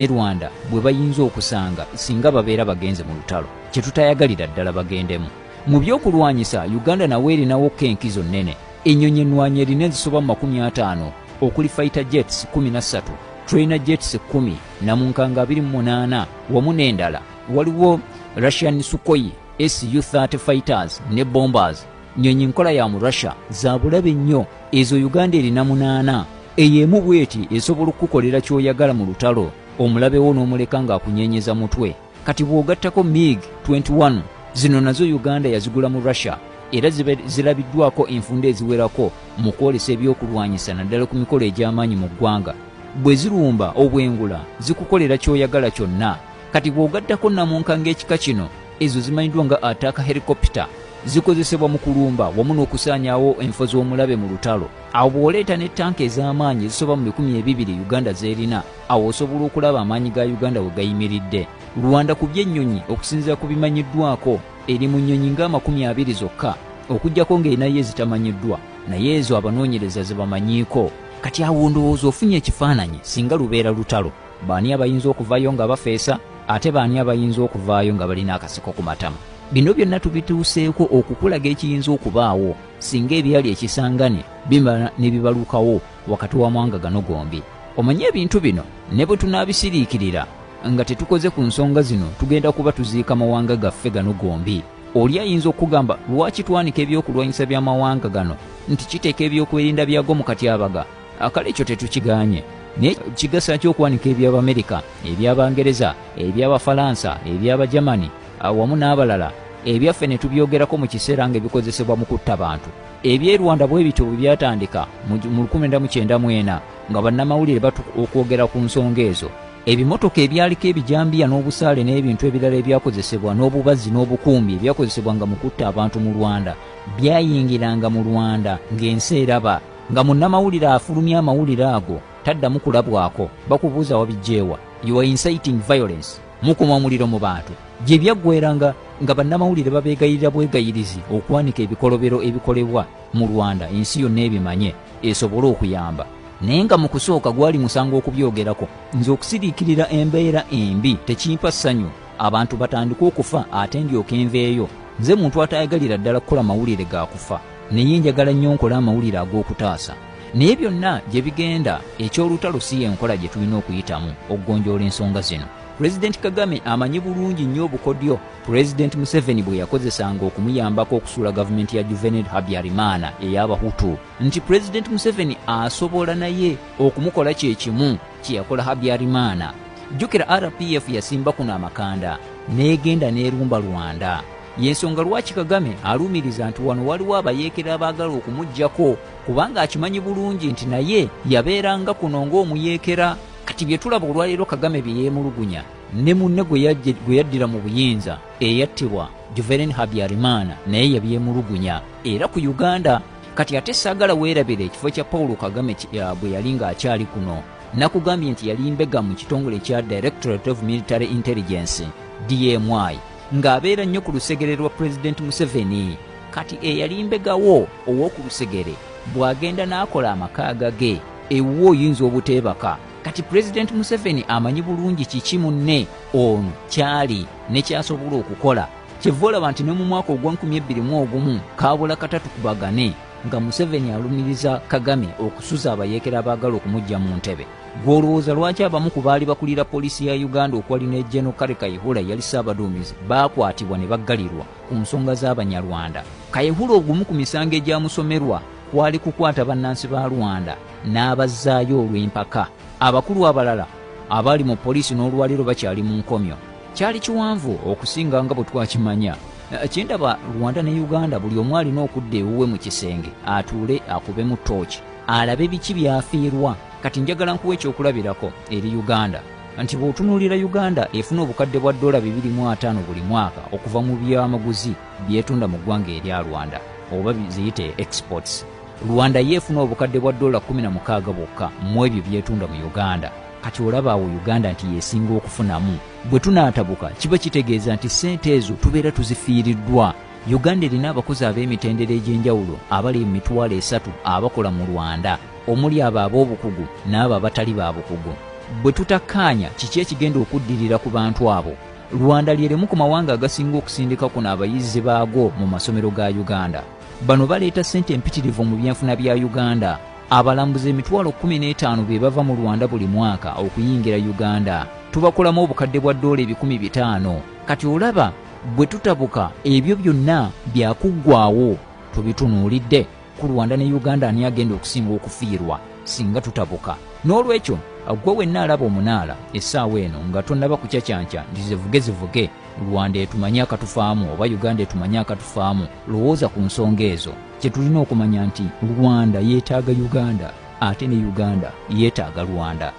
ne Rwanda bwe bayinza okusanga singa babeera bagenze mu lutalo kye tutayagalira ddala bagendemu mu by'okulwanyisa Uganda nawe erinawo ko enkizo nnene ennyonyi ennwanyi erina ezisoba mu makumi ataano okuli fighter jets kumi na ssatu trainer jets kkumi na munkanga abiri mu munaana wamu n'endala waliwo Russian Sukhoi SU-30 fighters ne bombers nyonyi nkola ya mu russia zabulabe nnyo ezo uganda erina munaana eyo emu bweti esobola okukukolera kyoyagala mu lutalo omulabewo n'omuleka ng'akunyenyeza mutwe kati bw'ogattako mig 21 zino nazo uganda yazigula mu russia era zirabiddwako enfunda eziwerako mu kwolesa ebyokulwanyisa naddala ku mikolo egy'amaanyi mu ggwanga bwe zirumba obwengula zikukolera kyoyagala kyonna kati bw'ogattako namunka ng'ekika kino Ezo zimanyiddwa nga attack helicopter. Zikozesebwa mu kulumba wamu n'okusaanyaawo enfo z'omulabe mu lutalo. Awo bw'oleeta ne tanka ez'amaanyi ezisoba mu bikumi ebibiri Uganda z'erina, awo osobola okulaba amaanyi ga Uganda we gayimiridde. Rwanda ku by'ennyonyi, okusinziira ku bimanyiddwako, eri mu nnyonyi ng'amakumi abiri zokka, okuggyako ng'erinayo ezitamanyiddwa, naye ezo abanoonyereza ze bamanyiiko. Kati awo ndowooza ofunye ekifaananyi singa lubeera lutalo. Baani abayinza okuvayo nga bafeesa ate baani abayinza okuvaayo nga balina akasiko ku matama? Bino byonna tubituuseeko okukulaga ekiyinza okubaawo singa ebyali ekisangane bimala ne bibalukawo wakati wa mwanga gano gombi. Omanye ebintu bino ne bwe tunaabisiriikirira nga tetukoze ku nsonga zino tugenda kuba tuziika mawanga gaffe gano gombi. Oli ayinza okugamba lwaki twanika ebyokulwanyisa by'amawanga gano nti kiteeka ebyokwerinda byago mu katyabaga akale ekyo tetukiganye naye kigasa ki okwanika eby'abamerika eby'abangereza eby'abafalansa eby'abagermani awamu n'abalala ebyaffe ne tubyogerako mu kiseera nga ebikozesebwa mu kutta bantu eby'e rwanda bwe bityo bwe byatandika mu 1994 nga bannamawulire batu okwogera ku nsonga ezo ebimotoka ebyaliko ebijambiya n'obusaale n'ebintu ebirala ebyakozesebwa n'obubazzi n'obukumbi ebyakozesebwanga mu kutta abantu mu rwanda byayingiranga mu rwanda ng'ensi eraba Nga munnamawulire afulumya amawulire ago taddamu kulabwako, bakubuuza wabijjeewa? You are inciting violence. Mukuma omuliro mu bantu. Gye byaggweera nga nga bannamawulire babeegayirira bwegayirizi okwanika ebikolobero ebikolebwa mu Rwanda ensi yonna ebimanye esobole okuyamba. Naye nga mu kusooka gwali musango okubyogerako. Nze okusiriikirira embeera embi tekimpa ssanyu. Abantu batandike okufa ate ndyoke nveeyo? Nze muntu ataayagalira ddala kukola mawulire ga kufa. naye njagala nnyo nkola amawulire ag'okutaasa naye byonna gye bigenda eky'olutalo si y'enkola gye tulina okuyitamu okugonjoola ensonga zino pulezidenti kagame amanyi bulungi nnyo obukodyo pulezidenti museveni bwe yakozesanga okumuyambako okusuula gavumenti ya juvenil habyarimaana ey'abahutu nti pulezidenti museveni asobola naye okumukola kye kimu kye yakola habyarimaana jjukira rpf yasimba kuno amakanda n'egenda n'erumba rwanda Y'ensonga lwaki Kagame alumiriza nti wano waliwo abayeekera abaagala okumugyako kubanga akimanyi bulungi nti naye yabeeranga kuno ng'omuyeekera kati bye tulaba olwaleero Kagame bye yeemulugunya ne munne gwe yaddira mu buyinza eyattibwa Juvereni Habyarimana naye yabyemulugunya era ku Uganda kati ate saagala weerabira ekifo kya Paulo Kagame bwe yali ng'akyali kuno nakugambye nti yali mbega mu kitongole kya Directorate of Military Intelligence DMI ng'abeera nnyo ku lusegere lwa pulezidenti museveni kati eyali mbegawo ow'oku lusegere bw'agenda n'akola amaka agage ewuwo oyinza obuteebaka kati pulezidenti museveni amanyi bulungi kiki munne ono kyali ne kyasobola okukola kyeva olaba nti ne mu mwaka ogwa 221 kaabula katatukubagane nga museveni alumiriza kagame okusuza abayeekera abaagala okumujja mu ntebe Gw'olowooza lwaki abamu ku baali bakulira poliisi ya Uganda okwali ne General Kale Kayihura yali ssaabaduumizi baakwatibwa ne baggalirwa ku nsonga z'Abanyarwanda? Kayihura ogumu ku misango egyamusomerwa kwali kukwata bannansi ba Rwanda n'abazzaayo olw'empaka. Abakulu abalala abaali mu poliisi n'olwaliro bakyali mu nkomyo. Kyali kiwanvu okusinga nga bwe twakimanya. Kyendaba Rwanda ne Uganda buli omu alina okudda ewuwe mu kisenge atuule akubemu ttooki. alabe biki byafiirwa kati njagala nkuwa ekyokulabirako eri uganda nti bw'otunuulira uganda efuna obukadde bwa ddoola 25 buli mwaka okuva mu byamaguzi byetunda mu ggwanga erya rwanda oba ziyite exports rwanda ye efuna obukadde bwa ddoola 16 bwokka mu ebyo byetunda mu uganda kati olaba awo uganda nti yesinga okufunamu bwe tunaatabuka kiba kitegeeza nti ssente ezo tubeera tuzifiiriddwa Uganda erina abakozi ab'emitendera egy'enjawulo abali mu mitwalo esatu abakola mu Rwanda omuli abo ab'obukugu n'abo abatali ba bukugu. Bwe tutakkaanya kiki ekigenda okuddirira ku bantu abo, Rwanda lye limu ku mawanga agasinga okusindika kuno abayizi baago mu masomero ga Uganda. Bano baleeta ssente mpitirivu mu byenfuna bya Uganda. Abalambuzi emitwalo kkumi n'etaano be bava mu Rwanda buli mwaka okuyingira Uganda. Tubakolamu obukadde bwa ddoola ebikumi bitaano. Kati olaba bwe tutabuka ebyo byonna byakuggwaawo tubitunuulidde ku Rwanda ne Uganda ani agenda okusinga okufiirwa singa tutabuka n'olwekyo gwe wenna alaba omunaala essaawa eno nga tonnaba kucacanca nti zivuge zivuge rwanda etumanye akatufaamu oba uganda etumanye akatufaamu lowooza ku nsonga ezo kye tulina okumanya nti rwanda yeetaaga uganda ate ne uganda yetaaga rwanda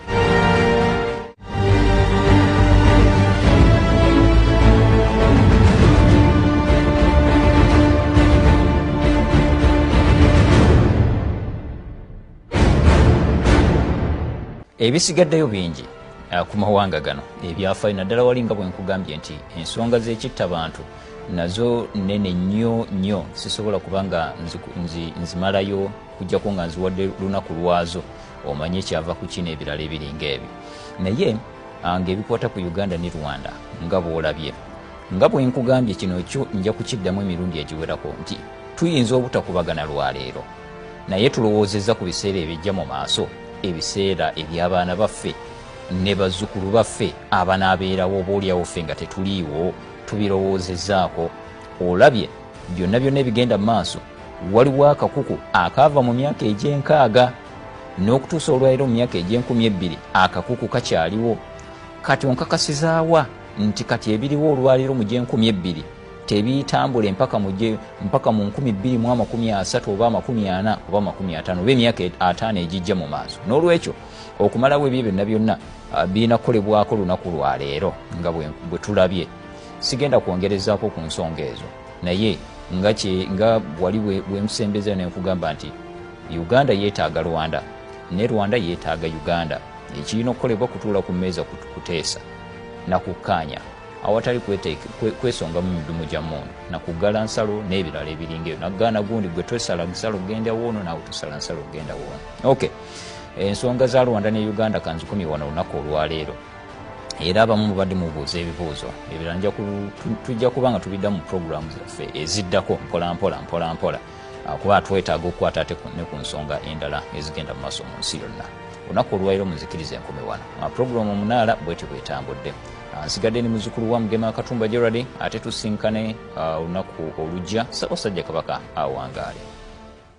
ebisigaddeyo bingi uh, ku mawanga gano ebyafayo naddala wali nga bwenkugambye nti ensonga zekitta bantu nazo nene nnyo nnyo sisobola kuba nga nzimalayo nzi, nzi kujjako nga nziwadde lunaku lwazo omanye kyava ku kino ebirala ebiringa ebyo naye ah, ngaebikwata ku uganda ne rwanda nga bwolabye nga bwenkugambye kino kyo nja kukiddamu emirundi egiwerako nti tuyinza obutakubagana lwaleero naye tulowoozezza ku biseera ebijja mu maaso ebiseera eby'abaana baffe ne bazzukulu baffe abanaabeerawo oba olyawo ffe nga tetuliiwo tubirowoozezaako olabye byonna byonna ebigenda mu maaso waliwo akakuku akaava mu myaka egy'enkaaga n'okutuusa olwaliro mu myaka egy'enkumi ebbiri akakuku kakyaliwo kati onkakasizaawa nti kati ebiriwo olwaliro mu gy'enkumi ebbiri tebitambula empaka muje mpaka mu nkumi bbiri mu amakumi asatu oba amakumi ana oba amakumi atano oba emyaka e-, ataano egijja mu maaso n'olwekyo okumalawo ebyo byonna byonna ah, birina kukolebwako lunaku lwaleero nga bwe tulabye sigenda kwongerezaako ku nsonga ezo naye nga kye nga wali bwenkusembeza ne nkugamba nti uganda yeetaaga rwanda ne rwanda yeetaaga uganda ekirina okukolebwa kutuula ku mmeeza kuteesa na kukkaanya awatali kwesongamu midumu gya mundu na kuggala nsalo n'ebirala ebiringa ebyo nakugaana gundi gwe twesala nsalo genda woono naawe tusala nsalo genda woono ok ensonga za rwanda ne uganda kanzikumye wano olunaku olwaleero era abamu mubadde mubuuza ebibuuzo ebirala tujja kuba nga tubidda mu puroguramu zaffe eziddako mpolampola mpolampola ah, kuba twetaaga okukwata ate ne ku nsonga endala ezigenda mu maaso mu nsi yonna olunaku olwaliro muzikiriza enkumi wano puroguramu omunaala bwetyo bwetambudde ah, nsigadde ni muzukulu wa mugema akatumba gerald ate tusinkane ah, olunaku olujja sabasajja kabaka awangaale